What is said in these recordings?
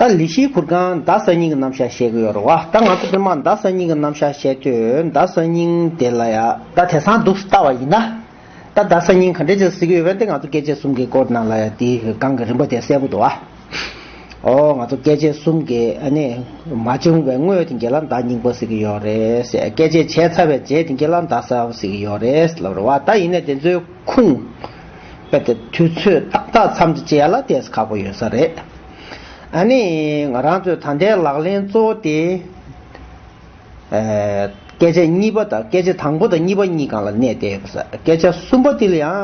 ད་ལི་ཤིའི་གུར་ཁང་རྡ་ས་སྙིང་གི་རྣམ་གཞག་བཤད་གི་ཡོད་རེད་བ་ད་ང་ཚོ་སྤེན་མང་རྡ་ས་སྙིང་གི་རྣམ་གཞག་བཤད་དུས་རྡ་ས་སྙིང་དེ་ལ་ཡ། ད་དེ་སང་སྡུག་ལྟ་བ་ཡིན་ན། ད་རྡ་ས་སྙིང་ག་འདྲའི་ཆེར་གཟིགས་གི་ཡོད་བན་དེ་ང་ཚོ་སྐད་ཆས་གསུམ་གི་སྐོར་ནང་ལ་ཡ་དེའི་སྒང་གི་རིམ་པ་དེ་གསལ་པོ་འདུག་བ། ཨོ་ང་ཚོ་སྐད་ཆས་གསུམ་གི་ཨ་ནི་མ་བྱུང་བའི་སྔོན་དེ་གེ་ལ་རྡ་སྙིང་པོ་གཟིགས་གི་ཡོད་རེད་སྐད་ཆས་བྱས་ཚར་བའི་རྗེས་དེ་གེ་ལ་རྡ་ས་གཟིགས་གི་ཡོད་རེད་ལབ་རེད་བ་ད་ཡིན་ནས་དེ་ཚོའི་ཁུངས། དཔེར་ཏེ་དུས་ཚོད་ཏག་ཏག་མཚམས་འདྲི་བྱས་ལ་བལྟས་ས་ཁག་པོ་ཡོད་ས་རེད། ཨ་ནི། ང་རང་ཚོས་ད་ལྟའི་ལག་ལེན་གཙོ་བོ་དེ། སྐད་ཆ་གཉིས་པ་དང་སྐད་ཆ་དང་པོ་དང་གཉིས་པ་གཉིས་གང་ལ་གནས་བསྡད་ཡོད་ས། སྐད་ཆ་གསུམ་པ་དེ་ལ་ཡང་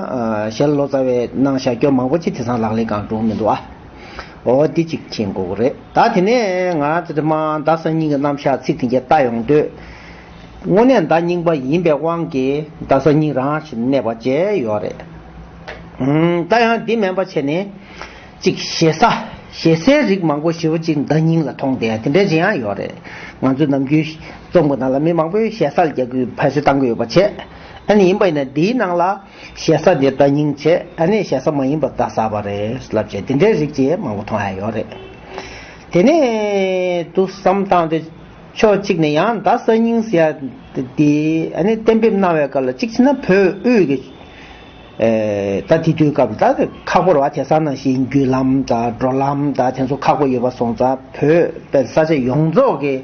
ཞལ་ལོ་ཙཱ་བས་གནང་བཞག་སྐྱོར་མང་པོ་ཅི་དེ་སང་ལག་ལེན་གང་འགྲོ་མི་འདུག་ཨ། འོ་འདི་གཅིག་མཁྱེན་དགོས་གོ་རེད་ད་དེ་ནས་ང་རང་ཚོས་དེ་མང་ཟླ་གསར་རྙིང་གི་རྣམ་བཞག་ཚིག་དེ་འགྱེལ་བལྟ་ཡོང་འདོད། དངོས་གནས་མདའ་རྙིང་པ་ཡིན་པའི་དབང་གིས་མདའ་ས་རྙིང་རང་ཞིག་གནས་པ་བཅས་ཡོད་རེད། ད་ཡང་འདི་མེད་པ་བྱས་ནས། གཅིག་ཞེ་ས། ཞེ་སའི་རིགས་མང་པོ་ཞེ་བོ་གཅིག་མདའ་རྙིང་ལ་མཐོང་དེ་འདྲའི་བྱེད་ཡང་ཡོད་རེད། ང་ཚོའི་ནམ་རྒྱུན། རྩོམ་གྱི་ནང་ལ་མི་མང་པོས་ཞེ་སར་རྒྱག་རྒྱུའི་ཕན་སོད་བཏང་གི་ཡོད་པ་བྱས། ཨ་ནི་ཡིན་པ་ཡིན་ན་འདིའི་ནང་ལ། ཞེ་ས་འདི་མདའ་རྙིང་བྱས་ཨ་ནི་ཞེ་ས་མ་ཡིན་པ་མདའ་ས་བ་རེད་ལབ་བྱས་འདི་འདྲའི་རིགས་བྱེད་མང་པོ་མཐོང་ཡང་ཡོད་རེད། དེ་ནས་དུ་བསམ་བཏང་སྟེ། ཕྱོགས་གཅིག་ནས་ཡང་དག་གསར་རྙིང་ཟེར་ཡ་དེ་གཏན་འབེབས་གནང་བའི་སྐབས་ལ་གཅིག་ཕྱིན་ན་བོད་དབུས་ཀྱི། ད་དེ་དུས་སྐབས་ད་ཁག་པོར་བ་དེ་ས་ན་བཞིན་རྒྱུད་ལམ་ད་འགྲོ་ལམ་ད་དེ་ཚོ་ཁག་པོ་ཡོད་པ་སོང་ཙ་བོད་པའི་ས་ཆ་ཡོངས་རྫོགས་ཀྱི་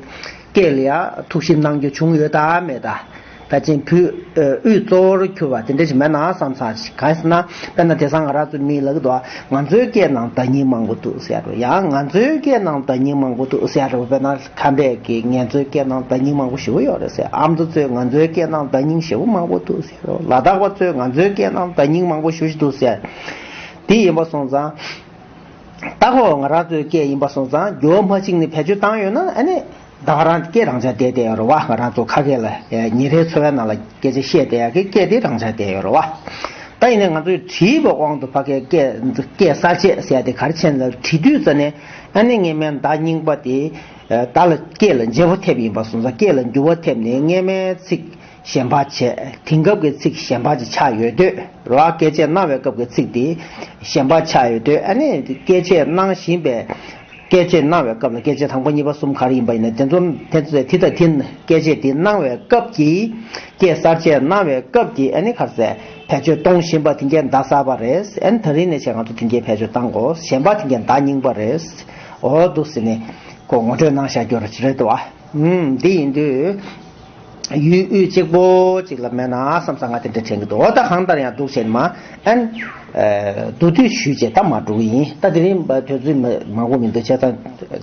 སྐད་ལ་ཡང་ཐུགས་ཞིབ་གནང་རྒྱུ་བྱུང་ཡོད་ད་མེད་ད། བལ་ཆེན་བུ་དབུས་གཙོ་བོར་གྱུར་པ་དེ་འདྲ་ཞིག་མེད་ན་བསམ་ས་ཞིག་ག་ཟེར་ན་དཔེར་ན་དེ་སང་ང་རང་ཚོའི་མིའི་ལག་ཏུ་ང་ཚོའི་སྐད་ནང་བརྡ་རྙིང་མང་པོ་འདུག་ཟེར་ཡ་རོ་ཡང་ང་ཚོའི་སྐད་ནང་བརྡ་རྙིང་མང་པོ་འདུག་ཟེར་ཡ་རོ་དཔེར་ན་ཁམས་པས་ཀྱི་ངེད་ཚོའི་སྐད་ནང་བརྡ་རྙིང་མང་པོ་ཞེ་བོ་ཡོད་རེད་ཟེར་ཨ་མདོ་ཚོས་ང་ཚོའི་སྐད་ནང་བརྡ་རྙིང་ཞེ་བོ་མང་པོ་འདུག་ཟེར་རོ་ལ་དྭགས་པ་ཚོས་ང་ཚོའི་སྐད་ནང་བརྡ་རྙིང་མང་པོ་ཞུ་བཞིན་འདུག་ཟེར་འདི་ཡིན་པ་སོང་ཙང་རྟགས་ཁོ་ང་རང་ཚོའི་སྐད་ཡིན་པ་སོང་ཙང་རྒྱུ་བ་མ་གཅིག་ནི་བེད་སྤྱོད་བཏང་ཡོད་ན་ཨ་ནི། བདག་རང་སྐད་རང་སྦྱར་བསྡད་དེ་རོ་བ་ང་རང་ཚོ་ཁ་སྐད་ལ་ཉིན་རེའི་འཚོ་བའི་ནང་ལ་སྐད་ཆ་བཤད་བསྡད་ཡ་གི་སྐད་དེ་རང་སྦྱར་བསྡད་ཡོད་རོ་བ། ད་ཡིན་ནའི་ང་ཚོས་བྲིས་པའི་དབང་དུ་ཕ་སྐད་སྐད་གསར་བཅད་བསལ་ཏེ་གར་ཆེན་ལ་བྲིས་དུས་རྩ་ནས་ཨ་ནེ་ངེད་མའི་མདའ་རྙིང་པ་དེ་བདག་ལ་སྐད་ལ་འཇལ་བོ་ཐེབས་ཡིན་པ་སོང་ཙང་སྐད་ལ་འགྱུར་བ་ཐེབས་ནས་ངེད་མའི་ཚིག་ཞེན་པ་བྱས། དེང་སྐབས་ཀྱི་ཚིག་ཞེན་པ་ཅིག་ཆགས་ཡོད་དུས་ར་སྐད་ཆས་སྣང་བའི་སྐབས་ཀྱི་ཚིག་དེ་ཞེན་པ་ཆགས་ཡོད་དུས་ཨ་ནི་སྐད་ཆས་སྣང་བཞིན་པའི་སྐད་ཆས་སྣང་བའི་སྐབས་ལ་སྐད་ཆས་དང་པོ་གཉིས་པ་གསུམ་ག་རེ་ཡིན་པ་ཡིན་ནོ། དེ་ཚོ་དེ་དང་དེ་སྐད་ཆས་དེ་སྣང་བའི་སྐབས་ཀྱི་སྐད་གསར་ཆས་སྣང་བའི་སྐབས་ཀྱི་ཨ་ནི་ཁར་ཟས་བེད་སྤྱོད་གཏོང་བཞིན་པ་དེང་སྐད་མདའ་གསར་པ་རེད་ཨ་ནི་ད་རིང་ནས་བྱས་ང་ཚོ་དེང་སྐད་བེད་སྤྱོད་གཏང་དགོས་ཞེན་པ་དེང་སྐད་མདའ་རྙིང་པ་རེད་འོ་འདུག་ཟེར་ནས་ངོ་སྤྲོད་གནང་བཞག་རྒྱུ་རེད་དོ་ཨ་འདི་ཡིན་དུས། ཡུལ་དབུས་གཅིག་པོ་གཅིག་ལ་མེད་ན་བསམ་ས་ང་དེ་འདྲ་དྲན་གྱི་འདུག་ཨོ་ད་གང་ལྟར་ཡང་སྡུག་བྱས་ནི་མ་ཨན། སྡུག་དུས་ཞུས་བྱས་ད་མ་འགྲོ་གི་ཡིན་ད་དེ་རིང་བ་དོན་ཚུལ་མང་པོ་མི་འདུག་བྱས་ཙང་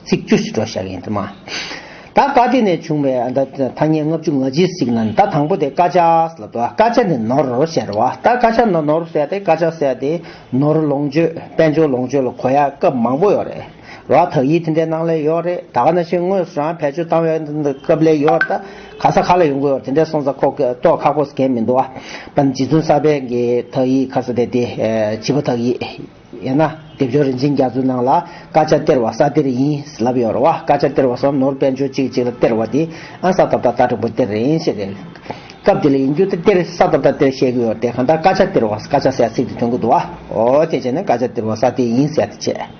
ཚིག་བཅུ་ཞིག་སྒྲོག་བཞག་གི་ཡིན་དེ་མ་ད་བཀའ་དེ་ནས་བྱུང་བའི་ཨ་ད་ཐ་སྙད་ལྔ་བཅུ་ང་གཅིག་གཟིགས་ན་ནི་ད་དང་པོ་དེ་སྐ་ཆ་ལ་འདུག་ཨ་སྐ་ཆ་ནི་ནོར་ཞེས་ར་བ་ད་སྐ་ཆ་ནོར་ནོར་ཟེར་ཏེ་སྐ་ཆ་ཟེར་ཏེ་ནོར་ལོངས་སྤྱོད་དཔལ་འབྱོར་ལོངས་སྤྱོད་ལ་གོ་ཡ་སྐབས་མང་པོ་ཡོད་རེད། ར་ཐག་ཡིད་འཐེན་འདྲའི་སྣང་ལས་ཡོད་རེད་ད་ག་ན་ཕྱིན་དངོས་སུ་རང་བེད་སྤྱོད་བཏང་བའི་སྐབས་ལས་ཡོད་ད་ག་ས་ག་ལ་ཡོང་གི་ཡོད་དེ་འདྲའི་སོང་ཙ་ཁོག་གི་ལྟོག་ཁ་པོ་ཟེར་མཁན་མི་འདུག་ཨ་བ་འདི་རྫུན་གསར་པའི་གི་ཐག་ཡིད་ག་ས་དེ་དེ་བྱིས་པ་ཐག་ཡིད་ཡིན་ན་དེབ་སྦྱོར་རིན་ཆེན་རྒྱ་མཚོའི་ནང་ལ་སྐར་ཆ་སྟེར་བ་ས་སྟེར་ཡིན་ལབ་ཡོད་རེད་བ་སྐར་ཆ་སྟེར་བ་སོགས་ནོར་དཔལ་འབྱོར་གཅིག་གཅིག་ལ་སྟེར་བ་དེ་ཨང་ས་ཐོབ་ད་ལྟ་དྲང་པོ་སྟེར་རེད་ཡིན་ཤེས་རེད་སྐབས་དེ་ལ་ཡིན་རྒྱུ་ད་སྟེར་ས་ཐོབ་ད་སྟེར་བཤད་གི་ཡོད་དེ་གང་ལྟར་སྐར་ཆ་སྟེར་བ་སྐར་ཆ་ཟེར་ཚིག་དེ་ཐོན་གི་འདུག་ཨོ་དེ་བྱས་ན་སྐར་ཆ་སྟེར་བ་ས་དེ་ཡིན་ཟེར་ཏེ་བྱས།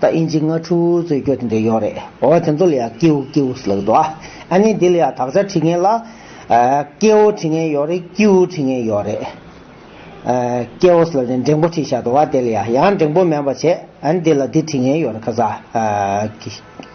ད་ཨིན་ཇི་སྔ་ཕྲུ་བོའི་རྩོད་རྒྱུ་དེ་འདྲ་ཡོད་རེད་འོ་དེ་ཚོ་ལ་ཡང་ཀེའུ་ཀེའུ་ཟེར་ལགས་འདུག་ཨ། ཨ་ནི་འདི་ལ་ཡང་དག་ཆ་དྲིས་ངེས་ལ། ཀེའུ་དྲིས་ངེས་ཡོད་རེད་ཀེའུ་དྲིས་ངེས་ཡོད་རེད། ཀེའུ་ཟེར་ལ་ནི་འགྲེང་པོ་དྲིས་ཤག་འདུག་ཨ་དེ་ལ་ཡང་ཡང་འགྲེང་པོ་མེད་པ་བྱས་ཨ་ནི་འདི་ལ་འདི་དྲིས་ངེས་ཡོད་རེད་ཁ་ཟ།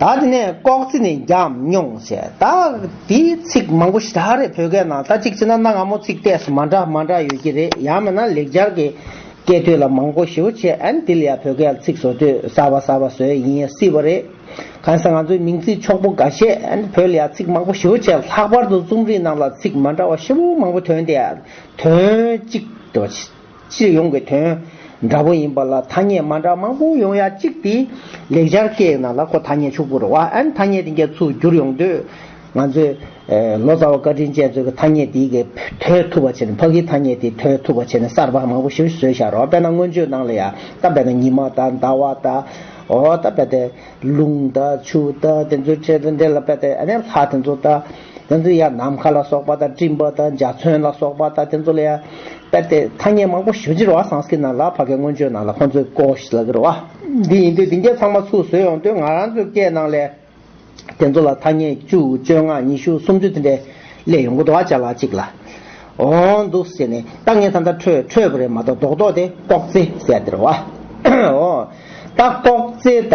ད་དེ་ནས་ལྐོག་རྩིས་ནི་བརྒྱབ་མྱོང་ཞེས་ད་དེ་ཚིག་མང་པོ་ཞེ་དྲག་རེད་བོད་སྐད་ནང་ད་གཅིག་བྱས་ན་གནའ་སྔ་མོ་ཚིག་གཏད་སོ་མ་འདྲ་མ་འདྲ་ཡོད་ཀྱི་རེད་ཡང་མེད་ན་ལེགས་སྦྱར་གྱི་སྐད་དོད་ལ་མང་པོ་ཞེ་བོ་བྱས་ཨན་དེ་ལ་ཡང་བོད་སྐད་ལ་ཚིག་བཟོ་དུས་གསར་བ་གསར་བ་བཟོས་ཡིན་སྲིད་པ་རེད། གང་ཟེར་ང་ཚོའི་མིང་ཚིག་འཁྱོག་པོ་འགའ་ཤས་ཨན་བོད་ལ་ཡང་ཚིག་མང་པོ་ཞེ་བོ་བྱས་ལྷག་པར་དུ་རྩོམ་རིག་ནང་ལ་ཚིག་མ་འདྲ་བ་ཞེ་བོ་མང་པོ་དོན་དེ་ཡང་དོན་གཅིག་རེད་བ། སྤྱི་ཡོངས་ཀྱི་དོན་འདྲ་པོ་ཡིན་པ་ལ་ཐ་སྙད་མ་འདྲ་མང་པོ་ཡོང་ཡ་གཅིག་དེ་ལེགས་སྦྱར་སྐད་ཡིག་ནང་ལ་ཁོ་ཐ་སྙད་ཕྱུག་པོར་བ་ཨན་ཐ་སྙད་དེ་འགྱ་ཚུགས་བསྒྱུར་ཡོང་དུས། ང་ཚོས། ལོ་ཙཱ་བ་བཀའ་དྲིན་ཅན་ཚོས་ཀྱི་ཐ་སྙད་དེའི་གི་དོད་ཐུབ་པ་བྱས་ནས་ཕ་གིའི་ཐ་སྙད་དེའི་དོད་ཐུབ་པ་བྱས་ནས་གསར་པ་མང་པོ་ཞིག་བཟོས་ཤག་རོགས་དཔེར་ན་སྔོན་བརྗོད་ནང་ལ་ཡ་ད་བས་ན་ཉི་མ་ད་ཟླ་བ་ད་འོ་ད་བས་ཏེ་ལུང་ད་ཆུ་ད་དེ་ཚོའི་འབྲེལ་ལ་བས་ཏེ་ཨ་ནེ་ལྷ་དེ་ཚོ་ད། དེ་ཚོ་ཡང་ནམ་མཁའ་ལ་སོགས་པ་དང་སྤྲིན་པ་དང་འཇའ་ཚོན་ལ་སོགས་པ་དང་དེ་ཚོ་ལ་ཡང་དཔེར་ཏེ་ཐ་སྙད་མང་པོ་ཞུ་ཕྱིར་བ་སངས་ཀྱི་ནང་ལ་བྷ་གའི་མངོན་བརྗོད་ནང་ལ་ཁོང་ཚོའི་ཀོ་ཤི་ལ་ཀིར་བ་འདི་ཡིན་དུས་འདི་འགའ་ཚང་མ་ཚུར་བཟོས་ཡོང་དུས་ང་རང་ཚོའི་སྐད་ནང་ལས་དེ་ཚོ་ལ་ཐ་སྙད་བཅུ་བཅོ་ལྔ་ཉི་ཤུ་སུམ་ཅུ་དེ་འདྲས་བསླེས་ཡོང་གི་འདུག་ཨ་ཅག་ལགས་གཅིག་ལ་འོང་འདུག་ཟེར་ནས་ལྟ་ངན་ད་ལྟ་འཕྲོད་འཕྲོད་པ་རེད་མ་གཏོགས་རྡོག་རྡོག་དེ་ལྐོག་རྩེ་ཟེར་ཡ་འདིར་བ་ཨོ་ད་ལྐོག་རྩེ་ད།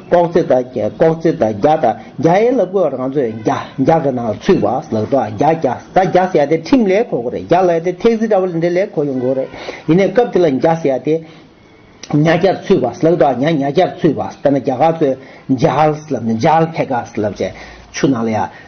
ལྐོག་རྩེ་དང་ལྐོག་རྩེ་དང་རྒྱ་དང་རྒྱ་ཡན་ལ་བཀོལ་བ་རང་ཚོད་རྒྱ་རྒྱ་གི་ནང་ལ་ཚུད་པ་ལགས་དོ་རྒྱ་རྒྱ་ད་རྒྱ་ཟེར་ཡ་དེ་ཁྲིམས་ལས་གོ་གོ་རེད་རྒྱ་ལ་ཡ་དེ་ཐེག་ཟིག་འདྲ་བོ་ལས་འདྲ་ལས་གོ་ཡོང་གོ་རེད་ཡིན་ནས་སྐབས་དེ་ལ་རྒྱ་ཟེར་ཡ་དེ་རྒྱ་རྒྱར་ཚུད་པ་ལགས་དོ་རྒྱ་རྒྱ་རྒྱར་ཚུད་པ་དཔེར་ན་རྒྱ་གར་ཚོས་ཇཱལ་ལབ་ནས་ཇཱལ་ཕེ་ག་ལབ་བྱས་ཆུ་ནང་ལ་ཡ།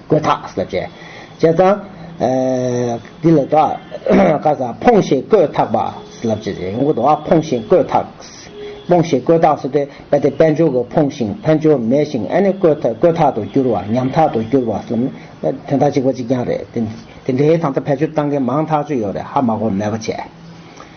བཀོད་ཐག་ཟེར། བྱས་ཙང། འདི་ལ་དོ། ཀ་ས་ཕོངས་ཤིང་བཀོད་ཐག་པ། ལབ་ཅེས་བྱས། ངོ་དོ་ཕོངས་ཤིང་བཀོད་ཐག། ཕོངས་ཤིང་བཀོད་ཐག་ཟེར་ཏེ། གལ་ཏེ་དཔལ་འབྱོར་གྱི་ཕོངས་ཤིང་དཔལ་འབྱོར་མེད་ཤིང་ཨ་ནི་བཀོད་ཐག་ཏུ་གྱུར་བ་ཉམ་ཐག་ཏུ་གྱུར་བ་གསུམ། དོན་དག་གཅིག་པ་གཅིག་རྐྱང་རེད། དེ་འདྲའི་དང་ཐ་ཕལ་ཆེར་བཏང་མཁན་མང་ཐག་ཆོད་ཡོད་རེད་ཧ་མ་གོ་མེད་པ་བྱས།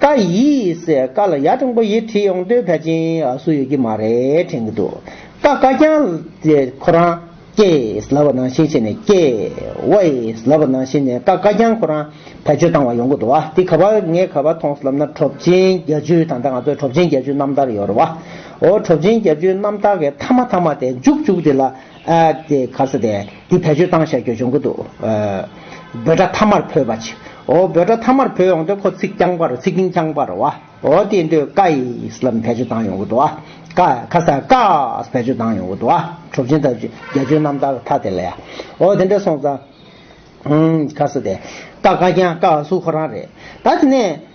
ཀ་ཡིས་ཀ་ལ་ཡ་ཀྲུང་གོ་ཡིས་བྲིས་ཡོང་དུས་ཕལ་ཆེན་སུ་ཡོད་ཀྱི་མ་རེད་དྲན་གྱི་འདུག་ཀ་བཀའ་རྐྱང་ལས་ཁོ་རང་ཀེས་ལབ་པ་ནང་བཞིན་བྱས་ནས་ཀེ་ཝེས་ལབ་པ་ནང་བཞིན་ནས་ཀ་བཀའ་རྐྱང་ཁོ་རང་བེད་སྤྱོད་བཏང་བ་ཡོང་གི་འདུག་བ་འདི་ག་བ་ངས་ག་བ་མཐོང་ལབ་ན་གྲོབ་ཆེན་རྒྱ་བཅུའི་ད་ལྟ་ང་ཚོའི་གྲོབ་ཆེན་རྒྱ་བཅུའི་རྣམ་ཐར་ཡོད་རེད་བ་འོ་གྲོབ་ཆེན་རྒྱ་བཅུའི་རྣམ་ཐར་གི་མཐའ་མ་མཐའ་མ་དེ་མཇུག་མཇུག་དེ་ལ། ཨདེ། ཁ་ས་དེ་འདི་བེད་སྤྱོད་བཏང་ཤག་གྱོད་བྱུང་གི་འདུག། འབོད་སྒྲ་ཐ་མར་བོས་པ་ཆི། ཨོ་འབོད་སྒྲ་ཐ་མར་བོས་ཡོང་སྟེ་ཁོ་ཚིག་རྐྱང་པར་ཚིག་རྐྱིང་རྐྱང་པར་བ། ཨོ་དེ་འདོད་ཀ་ཨིས་ལམ་བེད་སྤྱོད་བཏང་ཡོང་གི་འདུག་ཨ། ཀ། ཁ་ས་ཀ་ཨས་བེད་སྤྱོད་བཏང་ཡོང་གི་འདུག་ཨ། གྲུབ་ཆེན་ཐབས་བརྒྱ་ཆོས་རྣམ་དག་ཐ་དེ་ལ་ཡ། ཨོ་དེ་འདྲ་སོང་ཙང། ཨོ། ཁ་ས་དེ། ཀ་ཀ་རྐྱང་ཀ་ཨ་སུ་ཁོ་རང་རེད། ད་དེ་ནས།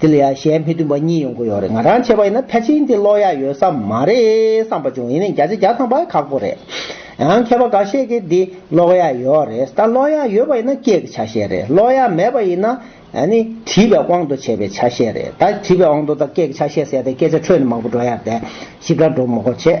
དེ་ལ་ཡང་གཞན་ཕན་མཐུན་པ་གཉིས་ཡོང་གི་ཡོད་རེད་ང་རང་བྱས་པ་ཡིན་ན་ཕལ་ཆེན་དེ་ཀློག་ཡག་ཡོད་ས་མ་རེད་བསམ་པ་བྱུང་ཡིན་ནའི་བརྒྱ་ཆ་བརྒྱ་ཚང་པ་ཁག་པོ་རེད། ཡང་མཁས་པ་འགའ་ཤས་ཀྱིས་འདི་ཀློག་ཡག་ཡོད་རེད་ད་ཀློག་ཡག་ཡོད་པ་ཡིན་ན་སྐད་ཀྱི་ཆ་ཤས་རེད་ཀློག་ཡག་མེད་པ་ཡིན་ན་ནི་བྲིས་པའི་དབང་དུ་བྱས་པའི་ཆ་ཤས་རེད་ད་བྲིས་པའི་དབང་དུ་ད་སྐད་ཀྱི་ཆ་ཤས་ཟེར་ཏེ་སྐད་ཆ་འཕྲོས་ནས་མང་པོ་འགྲོ་ཡག་རེད་ཞིབ་ཕྲ་འགྲོ་མགོ་བྱེད།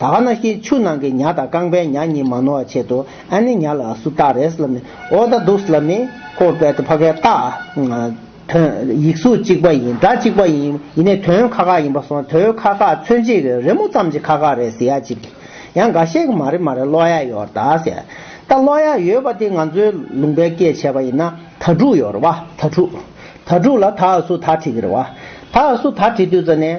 ད་ག་ན་ཤེས་ཆུ་ནང་གི་ཉྭ་དང་རྐང་པའི་ཉྭ་གཉིས་མ་ནོར་བ་ཆེད་དུ་ཨ་ནི་ཉྭ་ལ་ཨ་སུ་སྟག་རེས་ལ་མི་ཨོ་ད་དུགས་ལ་མི་ཧོ་བལ་ཏི་ཕ་གའི་སྟག། དོན་ཡིག་གཟུགས་གཅིག་པ་ཡིན་སྒྲ་གཅིག་པ་ཡིན་ཡིན་ནས་དོན་ཁ་ཁ་ཡིན་པ་སོང་དོན་ཁ་ཁ་མཚོན་བྱེད་ཀྱི་རི་མོ་ཙམ་གྱི་ཁ་ཁ་རེད་ཟེར་ཡ་གཅིག་ཡང་འགའ་ཤས་ཀྱི་མ་རེད་མ་རེད་ཀློག་ཡ་ཡོད་རེད་ད་ཟེར། ད་ཀློག་ཡ་ཡོད་པ་དེ་ང་ཚོའི་ལུང་པའི་སྐད་བྱས་པ་ཡིན་ན་ད་དྲུག་ཡོད་རེད་བ་ད་དྲུག། ད་དྲུག་ལ་ད་ཨ་སུ་ད་བྲིས་ཀྱི་རེད་བ། ད་ཨ་སུ་ད་བྲིས་དུས་ཙ་ནས།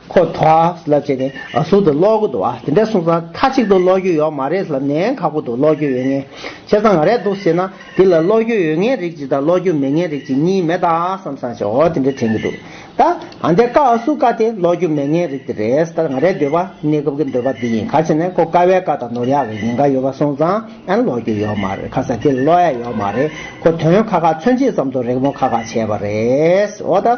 ཁོ་ཐོགས་ལབ་བྱས་ནས་ཟུར་དུ་ལོག་གི་འདུག་ཨ་དེ་འདྲ་གསུངས་ཙང་མཐའ་གཅིག་ཏུ་ལོག་རྒྱུ་ཡོག་མ་རེད་ལབ་ནས་ཁག་པོ་འདུག་ལོག་རྒྱུ་ཡོད་ངེས་བྱས་ཙང་ང་རེད་འདུག་ཟེར་ན་དེ་ལ་ལོག་རྒྱུ་ཡོད་ངེས་རིགས་གཅིག་དང་ལོག་རྒྱུ་མེད་ངེས་རིགས་གཅིག་གཉིས་མེད་ད་བསམ་བསམ་བྱས་འོ་དེ་འདྲ་དྲན་གི་འདུག་ད་ཨ་འདྲས་ཀ་ཨ་སུ་ཀ་དེ་ལོག་རྒྱུ་མེད་ངེས་རིགས་དེ་རེད་ད་ང་རེད་འདོད་པ་གནས་སྐབས་ཀྱི་འདོད་པ་འདི་ཡིན་ག་བྱས་ནས་ཁོ་ཀ་བས་ཀ་དང་ནོར་ཡག་གི་ཡིན་ག་ཡོད་པ་གསུངས་ཙང་ཨན་ལོག་རྒྱུ་ཡོག་མ་རེད་ཁ་ཟ་དེ་ལ་ལོག་ཡ་ཡོག་མ་རེད་ཁོ་དོན་ཁ་ཁ་མཚོན་བྱེད་ཙམ་དུ་རེག་མོ་ཁ་ཁ་བྱས་པ་རེད་འོ་ད།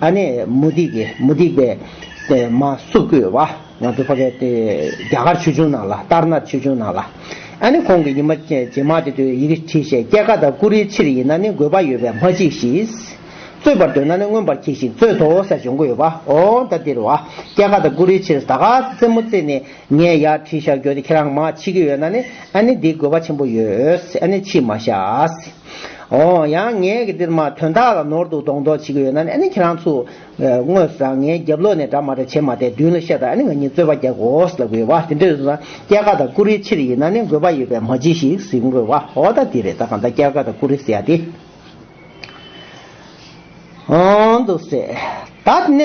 ཨ་ནེ་མུ་ཏིག་གི་མུ་ཏིག་པའི། མ་སུ་ཀུའི་བ། ང་དུ་བྷ་གའི་སྟེ། རྒྱ་གར་ཆོས་འབྱུང་ནང་ལ་ལྟར་ན་ཆོས་འབྱུང་ནང་ལ། ཨ་ནེ་ཁོང་གི་ཉི་མ་རྗེས་མ་དེ་དུས་ཡི་གེ་བྲིས་ཤེས་སྐྱེ་ཀ་དང་ཀུ་རེའི་ཕྱིར་ཡིན་ན་ནི་དགོས་པ་ཡོད་པས་མ་བྲིས་ཤིས། རྩོད་པར་འདོད་ན་ནི་མངོན་པར་གྱིས་ཤིག་རྩོད་དོ་ཟེར་བྱུང་གི་ཡོད་པ་འོ་ད་འདིར་བ་སྐྱེ་ཀ་དང་ཀུ་རེའི་ཕྱིར་ད་ག་རྩེད་མོ་རྩེས་ནས་ངས་ཡར་བྲིས་བཞག་རྒྱུ་དེ་ཁྱེད་རང་མ་མཆིས་ཀི་ཡོད་ན་ནི་ཨ་ནེ་འདི་དགོས་པ་ཆེན་པོ་ཡོད་ཨ་ནེ་མཆིས་མ་ཤཱས། ཨོ། ཡང་ངས་ཀྱི་འདིར་མ་དོན་དག་ལ་ནོར་འདུག་གདོང་མདོག་བྱེད་ཀྱི་ཡོད་ན་ནི་ཨ་ནི་ཁྱེད་རང་ཚོ། དངོས་སུ་རང་ངའི་རྒྱབ་ལོག་ནས་འདྲ་མ་འདྲ་བྱེད་མ་བསྡད་མདུན་ལ་བཤད་དང་ཨ་ནི་ང་གཉིས་རྩོད་པ་རྒྱག་གོས་ལ་དགོས་བ་དེ་འདྲ་ཡོད་ན། སྐྱེ་རྒ་དང་ཀུ་རེའི་ཕྱིར་ཡིན་ན་ནི་དགོས་པ་ཡོད་པས་མ་བྱེད་ཞིག་ཟེར་དགོས་བ་ཨོ་ད་དེ་རེད་ད་གང་ལྟར་སྐྱེ་རྒ་དང་ཀུ་རེ་ཟེར་ཡ་དེ། འདུག་བསད། ད་ནས་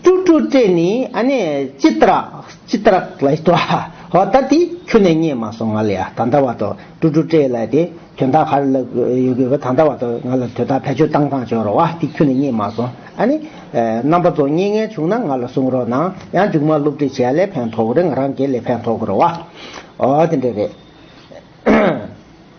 སྤྲུག་སྤྲུག་སྤྲད་ནས་ཨ་ནས་ཅི་ཏར་ཅི་ཏར་ལ་ཡོད་ཨ། ཧོ་ད་དེ་ཁྱོད་ནས་རྙེད་མ་སོང་ང་ལ་ཡ་ད་ད་བ་ཏོ་སྤྲུག་སྤྲུག་སྤྲད་ལ་དེ་དོན་དག་ཧར་ལ་ཡོད་གི་ད་ད་བ་ཏོ་ང་ལ་དོད་ད་བེད་སྤྱོད་བཏང་བཏང་བྱོས་རོགས་ཨ་དེ་ཁྱོད་ནས་རྙེད་མ་སོང་ཨ་ནི། རྣམ་པ་ཚོ་རྙེད་ངེས་བྱུང་ན་ང་ལ་གསུང་རོགས་གནང་ཡང་མཇུག་མ་བསླུ་བྲིད་བྱས་ལས་ཕན་ཐོག་གི་རེད་ང་རང་གིས་ལས་ཕན་ཐོག་གི་རོགས་ཨ། ཨོ་དེ་འདྲ་རེད།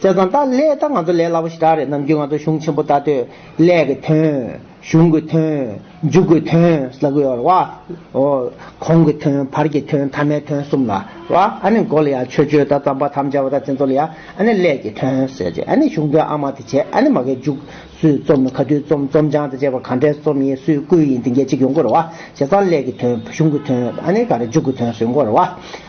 བཙལ་བཟང་ལྟ་ལས་ད་ང་ཚོ་ལས་སླ་པོ་ཞིག་གྲགས་རེད་ནམ་རྒྱུན་ང་ཚོ་གཞུང་ཆེན་པོ་ལྟ་དོད་ལས་ཀྱི་དོན། གཞུང་གི་དོན། འཇུག་གི་དོན་ཟ་གི་ཡོད་རེད་བ། གོང་གི་དོན་བར་གྱི་དོན་མཐའ་མའི་དོན་གསུམ་ལ་བ། ཨ་ནི་མགོ་ལ་ཡང་ཆོས་སྤྱོད་དང་རྩམ་པ་དམ་བཅའ་བ་དང་བཙན་འཚོལ་ལ་ཡང་ཨ་ནི་ལས་ཀྱི་དོན་ཟེར་གྱི་ཨ་ནི་གཞུང་དོན་ཨ་མ་དེ་བྱས་ཨ་ནི་མ་གའི་འཇུག། སུས་རྩོམ་ནི་ག་དུས་རྩོམ་རྩོམ་བྱང་དང་བཅས་པ་གང་འདྲའི་རྩོམ་ཡིན་སུས་བསྐུལ་ཡིན་དེ་འགའ་གཅིག་ཡོང་དགོས་རེད་བ། བྱས་ཙང་ལས་ཀྱི་དོན་གཞུང་གི་དོན་ཨ་ནི་ག་རེ་འཇུག་གི་དོན་སུས་འགོ་རེད་བ།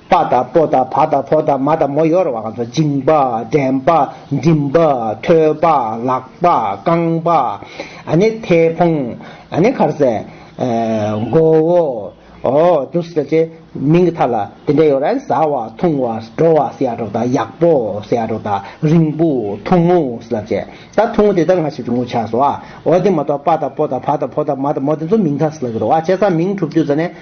པ་དང་སྤོ་དང་བ་དང་ཕོ་དང་མ་དང་མོ་ཡོར་བ་གང་ཚོགས་བཅིངས་པ་འདྲེན་པ་འགྲིམས་པ་ཐོད་པ་ལག་པ་རྐང་པ་ནི་ཐལ་འཕོང་ནི་འཁར་གསལ་མགོ་བོ་འདུག་སེ་ཅེས་མིང་གི་མཐའ་ལ་དེ་འདྲ་ཡོད་ར་ཟ་བ་འཐུང་བ་དྲོ་བ་སེ་ཡ་དྲོ་དང་ཡག་པོ་སེ་ཡ་དྲོ་དང་རིང་པོ་ཐུང་ངུ་སེ་ལ་ཅེས་ད་ཐུང་ངུ་དེ་ལྟར་ང་ཞིག་ཏུ་ངུ་ཆགས་སོ་ཨོ་དེ་མ་གཏོགས་པ་དང་སྤོ་དང་བ་དང་ཕོ་དང་མ་དང་མོ་དེ་ཚོ་མིང་མཐའ་སེ་ལ་གི་རོ་ཨ་ཅེ་ས་མིང་གྲུབ་དུས་ཟ་ནས།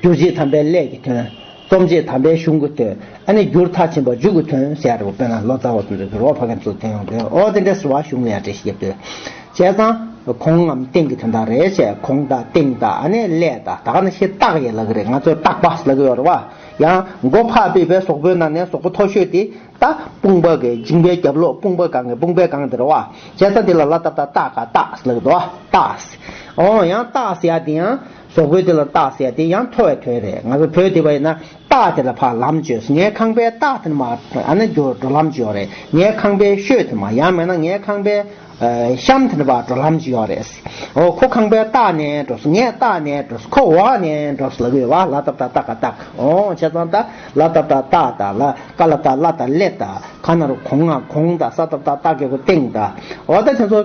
སྒྱུར་བྱེད་དམ་པའི་ལས་ཀྱི་དོན། རྩོམ་བྱེད་དམ་པའི་གཞུང་གི་དོན། ཨ་ནི་བསྒྱུར་མཐའ་ཆེན་པོ་འཇུག་གི་དོན་ཞེས་ཡ་རེ་བོ་དཔེ་ན་ལོ་ཙཱ་བ་ཚོས་འདོད་ཚུལ་ཨོ་བྷ་གན་ཚོས་དོན་ཡོང་དོན་ཨོ་དེ་འདྲའི་ཟུར་བ་གཞུང་ལས་ཡ་རེ་ཞིག་ཡོད་དོས། བྱས་ཙང། གོང་ངམ་སྟེང་གི་དོན་དག་རེད་བྱས་གོང་དང་སྟེང་དང་ཨ་ནི་ལས་དང་ད་ག་ནི་ཤེས་རྟགས་ཡེ་ལ་གི་རེད་ང་ཚོས་རྟགས་པ་ལ་གི་ཡོ་རེ་བ། ཡང། མགོ་ཕག་པི་པའི་ཟོག་པོའི་ནང་ནས་ཟོག་པོ་མཐོ་ཤོས་དེ། ད། དཔུང་པ་གི་འཇིང་པའི་རྒྱབ་ལོགས་དཔུང་པ་གང་གི་དཔུང་པའི་གང་དེ་རེད་བ། བྱས་ཙང་དེ་ལ་ལ་བཏབ་ད་རྟགས་ག་རྟགས་ལ་གི་འདོད་བ་རྟགས། ཨོ་ཡང་རྟགས་ཡ་དེ་ཡང། བཟོ་བཀོད་དེ་ལ་རྟགས་བསལ་དེ་ཡང་མཐོ་བའི་དོན་རེད་ང་ཚོ་བོད་དེ་བ་ཡིན་ན་རྟགས་དེ་ལ་ཕ་ལམ་བཅོས་ངའི་ཁང་པའི་རྟགས་དེ་ནི་མ་ཨ་ན་གྱོ་འགྲོ་ལམ་གྱོ་རེད་ངའི་ཁང་པའི་ཤོད་དེ་མ་ཡང་མེད་ན་ངའི་ཁང་པའི་གཤམ་དེ་ནི་བ་འགྲོ་ལམ་གྱོ་རེད་འོ་ཁོ་ཁང་པའི་རྟགས་ནས་འགྲོ་སོང་ངས་རྟགས་ནས་འགྲོ་སོང་ཁོ་འོག་ནས་འགྲོ་སོང་ལ་གི་བ་ལ་དབ་ད་རྟགས་ཀ་རྟགས་ཨོ་བྱས་ཙང་ད་ལ་དབ་ད་རྟགས་ད་ལ་ཀ་ལ་ད་ལ་ད་ལེ་ད་ག་ན་རུ་གོང་ང་གོང་ད་ས་ད་རྟགས་ཀ་གོ་སྟེང་ད་འོ་ད་དེ་ཚོ།